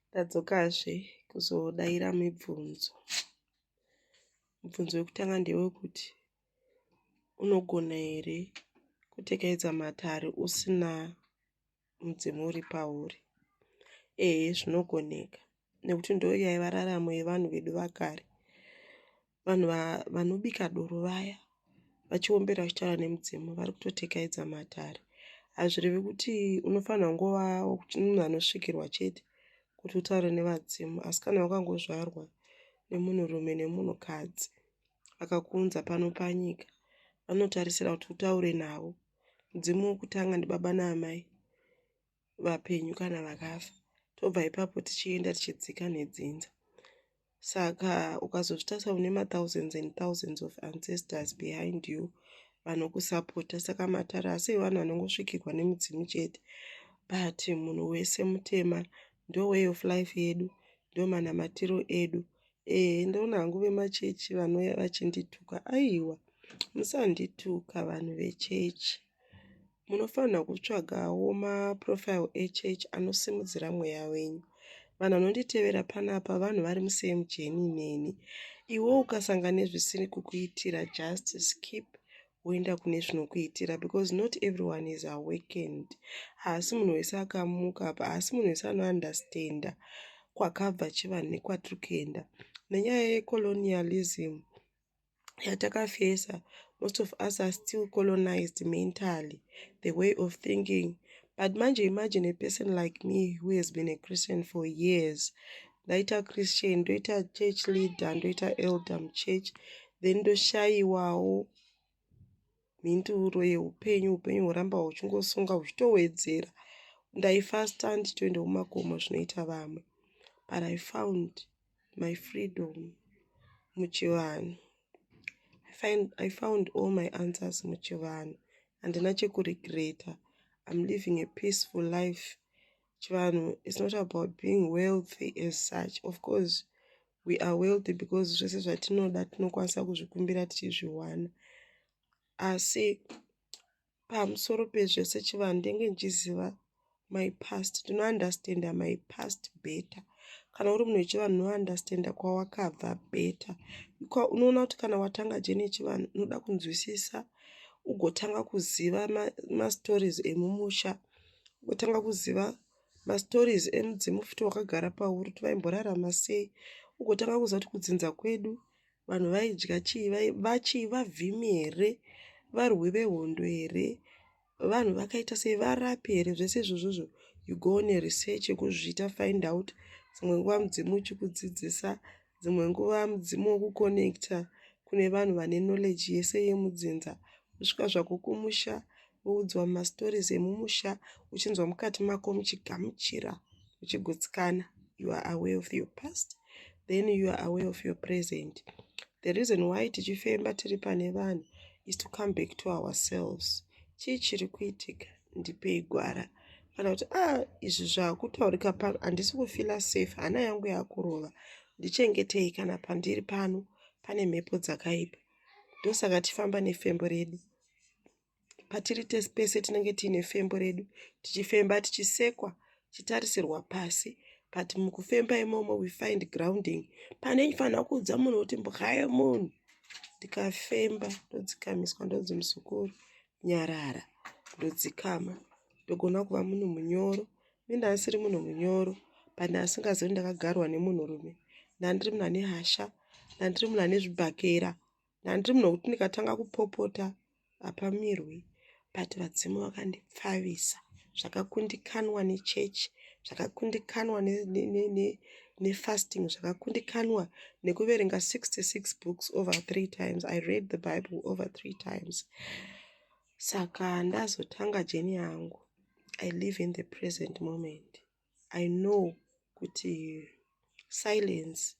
ndadzokazve kuzodaira mibvunzo mubvunzo wekutanga ndewekuti unogona here kutekedza matare usina mudzimu uri pauri ehe zvinogoneka nekuti ndoyaiva raramo yevanhu vedu vakare vanhu vanobika doro vaya vachiombera vachitaura nemudzimu vari kutotekaidza matare hazvirevi kuti unofanira ngova munhu anosvikirwa chete kuti utaure nevadzimu asi kana wakangozvarwa nemunhurume nemunhukadzi vakakuunza pano panyika vanotarisira kuti utaure navo mudzimu wokutanga ndibaba naamai vapenyu kana vakafa tobva ipapo tichienda tichidzika nedzinza saka ukazozvitarisa une mathousands and thousands of ancestors behind you vanokusapota saka matare asi vanhu vanongosvikirwa nemudzimu chete but munhu wese mutema ndo way of life yedu ndo manamatiro edu ee ndoona hangu vemachechi vanouya vachindituka aiwa musandituka vanhu vechechi Munofanirwa kutsvagawo maprofile echurch anosimudzira mweya wenyu. Vanhu vanonditevera panapa vanhu vari musame jeni neni. Iwe ukasanga nezvisiri kukuitira just skip woenda kune zvinokuitira because not everyone is awakened. Haasi munhu wese akamuka apa, haasi munhu wese anounderstanda kwakabva chivanhu nekwatiri kuenda. Nenyaya yecolonialism, yatakafesa most of us are still colonized mentally the way of thinking but manje imagine a person like me who has been a christian for years ndaita christian ndoita church leader ndoita elder muchurch then ndoshayiwawo mhinduro yeupenyu upenyu huramba huchingosunga huchitowedzera ndaifasta nditoenda kumakomo zvinoita vamwe but i found my freedom muchivanhu i found all my answers muchivanhu handina chekuregreta i'm living a peaceful life chivanhu is not about being wealthy as such of course we are wealthy because zvese zvatinoda tinokwanisa kuzvikumbira tichizviwana asi pamusoro pezvese chivanhu ndenge ndichiziva my past tinounderstanda my past better kana uri munhu wechivanhu unounderstanda kwawakabva better unoona kuti kana watanga jeni yechivanhu unoda kunzwisisa ugotanga kuziva mastories ma emumusha ugotanga kuziva ma mastories emudzimu futi wakagara pauri kuti vaimborarama sei ugotanga kuziva kuti kudzinza kwedu vanhu vaidya chii vachii vavhimi here varwi vehondo here vanhu vakaita sei varapi here zvese izvozvozvo you go on a research yekuzviita find out dzimwe nguva mudzimu uchikudzidzisa Dzimwe nguva mudzimu wokukonekita kune vanhu vane knowledge yese yemudzinza kusvika zvako kumusha woudzwa mastories emumusha uchinzwa mukati mako muchigamuchira uchigutsikana you are aware of your past then you are aware of your present the reason why tichifemba tiri pane vanhu is to come back to ourselves chii chiri kuitika ndipei gwara kana kuti a ah, izvi zvakutaurika pano handisi kufila safe hana yangu yakurova ndichengetei kana pandiri pano pane mhepo dzakaipa ndosaka tifamba nefembo redu patiri tese pese tinenge tiine fembo redu tichifemba tichisekwa tichitarisirwa pasi but mukufemba imomo we find grounding pane fanira kuudza munhu kuti mbwaye munhu ndikafemba ndodzikamiswa ndonzi muzukuru nyarara ndodzikama ndogona kuva munhu munyoro ini ndandisiri munhu munyoro but ndandisingazii kuti ndakagarwa nemunhu rume ndandiri munhu ane hasha ndandiri munhu ane zvibhakera ndandiri munhu wekuti ndikatanga kupopota hapamirwi but vadzimu vakandipfavisa zvakakundikanwa nechechi zvakakundikanwa nefasting zvakakundikanwa nekuverenga 66 books over three times i read the bible over three times saka ndazotanga jeni yangu i live in the present moment i know kuti silence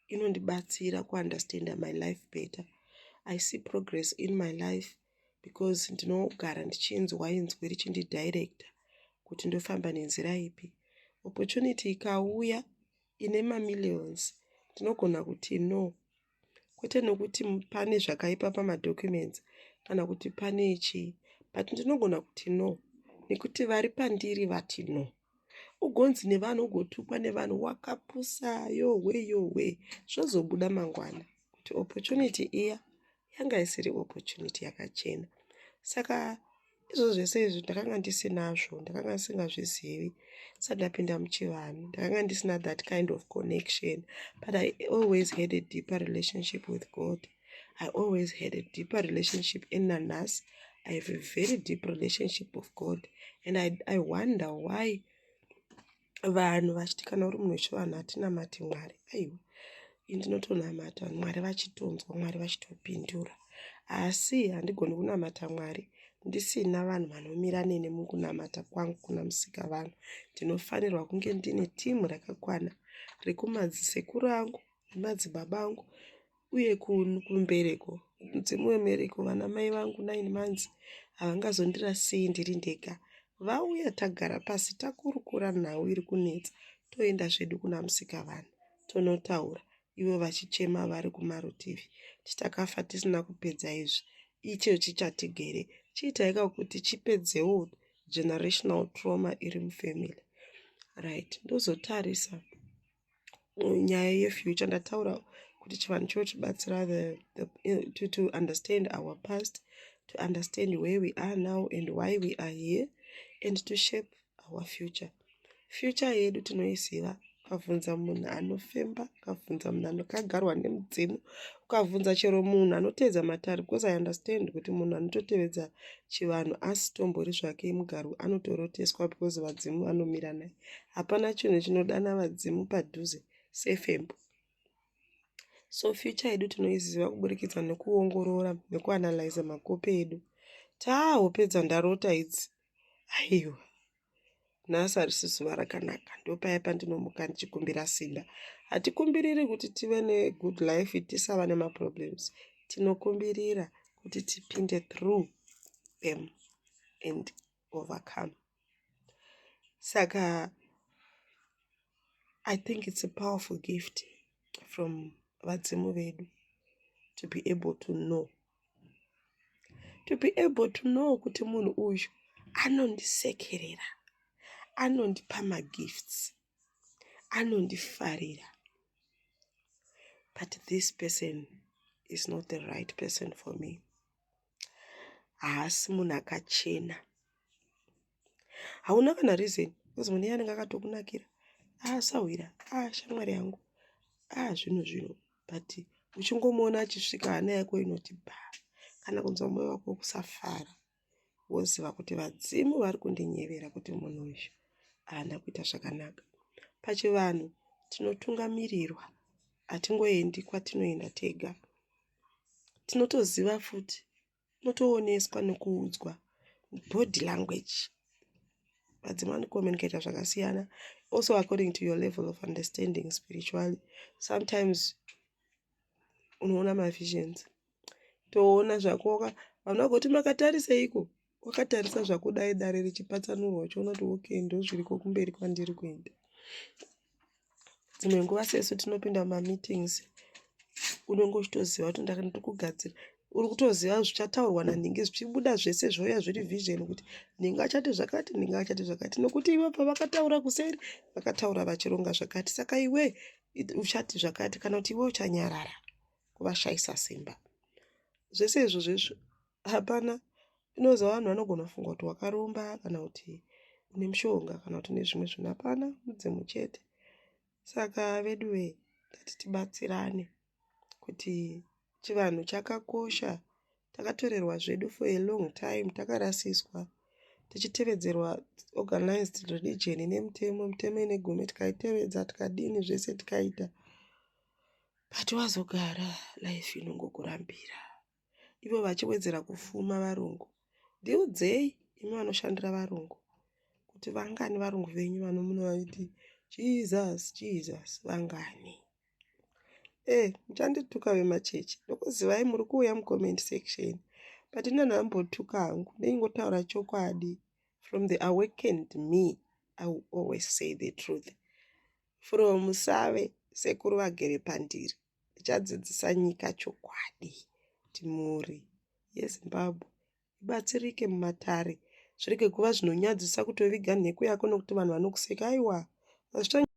inondibatsira kuunderstanda my life better i see progress in my life because ndinogara ndichinzwa inzwi richindidirector kuti ndofamba nenzira ipi opportunity ikauya ine mamillions ndinogona kuti no kwete nokuti pane zvakaipa pamadocuments kana kuti pane chii but ndinogona kuti no nekuti vari pandiri vati no ugonzi nevanhu ugotukwa nevanhu wakapusa yohwe yohwe zvozobuda mangwana kuti opportunity iya yanga isiri opportunity yakachena saka izvo zvese izvi ndakanga ndisinazvo ndakanga ndisingazvizivi sa ndapinda muchivanhu ndakanga ndisina that kind of connection but i always had a deeper relationship with god i always had a deeper relationship in nanas i have a very deep relationship of god and i, I wonder why vanhu vachiti kana uri munhu wechivanhu hatinamati mwari aiwa ini ndinotonamata vanhu mwari vachitonzwa mwari vachitopindura asi handigoni kunamata mwari ndisina vanhu vanomira nene mukunamata kwangu kuna musika vanhu ndinofanirwa kunge ndine timu rakakwana rekumadzise kurangu nemadzibaba angu uye kumbereko mudzimu wembereko vana mai vangu nine months havangazondirasei ndiri ndega vauya tagara pasi takurukura nhau iri kunetsa toenda zvedu kuna musika vanhu tonotaura ivo vachichema vari kumarutivi titakafa tisina kupedza izvi icho chichatigere chiitaika kuti chipedzewo generational trauma iri mufamily right ndozotarisa nyaya yefuture ndataura kuti chivanhu chotibatsira to, to understand our past to understand where we are now and why we are here and to shape our future future yedu tinoiziva ukavhunza munhu anofemba ukavhunza munhu anokagarwa nemudzimu ukavhunza chero munhu anoteedza matare because i understand kuti munhu anototevedza chivanhu asitombori zvake mugaru anotoroteswa because vadzimu vanomira naye hapana chinhu chinodana vadzimu padhuze sefembo so future yedu tinoiziva kuburikidza nekuongorora nekuanalyza makope edu taahopedza ndarota idzi aiwa nhasi harisi zuva rakanaka ndopaya pandinomuka ndichikumbira simba hatikumbiriri kuti tive negood life tisava nemaproblems tinokumbirira kuti tipinde through them and overcome saka i think it's a powerful gift from vadzimu vedu to be able to know to be able to know kuti munhu uyu anondisekerera anondipa magifts anondifarira but this person is not the right person for me haasi munhu akachena hauna kana reason because mune yanenge akatokunakira aasahwira ah, aa ah, shamwari yangu aa ah, zvinhu zvino but uchingomuona achisvika hana yako inoti ba kana kunzwa moyo wako wokusafara woziva kuti vadzimu vari kundinyevera kuti munhu uyu haana kuita zvakanaka pachivanhu tinotungamirirwa hatingoendi kwatinoenda tega tinotoziva futi unotooneswa nekuudzwa body language vadzimai vanocommunicator zvakasiyana also according to your level of understanding spiritually sometimes unoona mavisions toona zvakoka vanhu vagoti makatariseiko wakatarisa zvakudai dare richipatsanurwa uchiona kuti okay ndozviriko kumberi kwandiri kuenda dzimwe nguva sesu tinopinda mumameetings unenge uchitoziva kuti ndiri kugadzira uri kutoziva zvichataurwa nanhingi zvichibuda zvese zvouya zviri vision kuti nhingi achati zvakati nhingi achati zvakati nokuti ivo pavakataura kuseri vakataura vachironga zvakati saka iwe uchati zvakati kana kuti iwe uchanyarara kuvashayisa simba zvese izvo zvezvo hapana inozoa vanhu vanogona kufunga kuti wakaromba kana kuti une mushonga kana kuti une zvimwe zvinhu hapana mudzimu chete saka vedu vee tati tibatsirane kuti chivanhu chakakosha takatorerwa zvedu for a long time takarasiswa tichitevedzerwa organized religion ine mutemo mutemo ine gumi tikaitevedza tikadini zvese tikaita but wazogara life inongokurambira ivo vachiwedzera kufuma varungu ndiudzei imi vanoshandira varungu kuti vangani varungu venyu vanomuno vaiti jesus jesus vangani e eh, muchandituka vemachechi ndokuzivai muri kuuya mucomment section but inana ambotuka hangu ndeingotaura chokwadi from the awakened me i will always say the truth from save sekuru vagere pandiri Tichadzidzisa nyika chokwadi kuti mhuri yeZimbabwe ibatsirike mumatare. Zvirege kuva zvinonyadzisa kutoviga nhekwe yako nokuti vanhu vanokuseka. Aiwa, hazvichanyadzisi.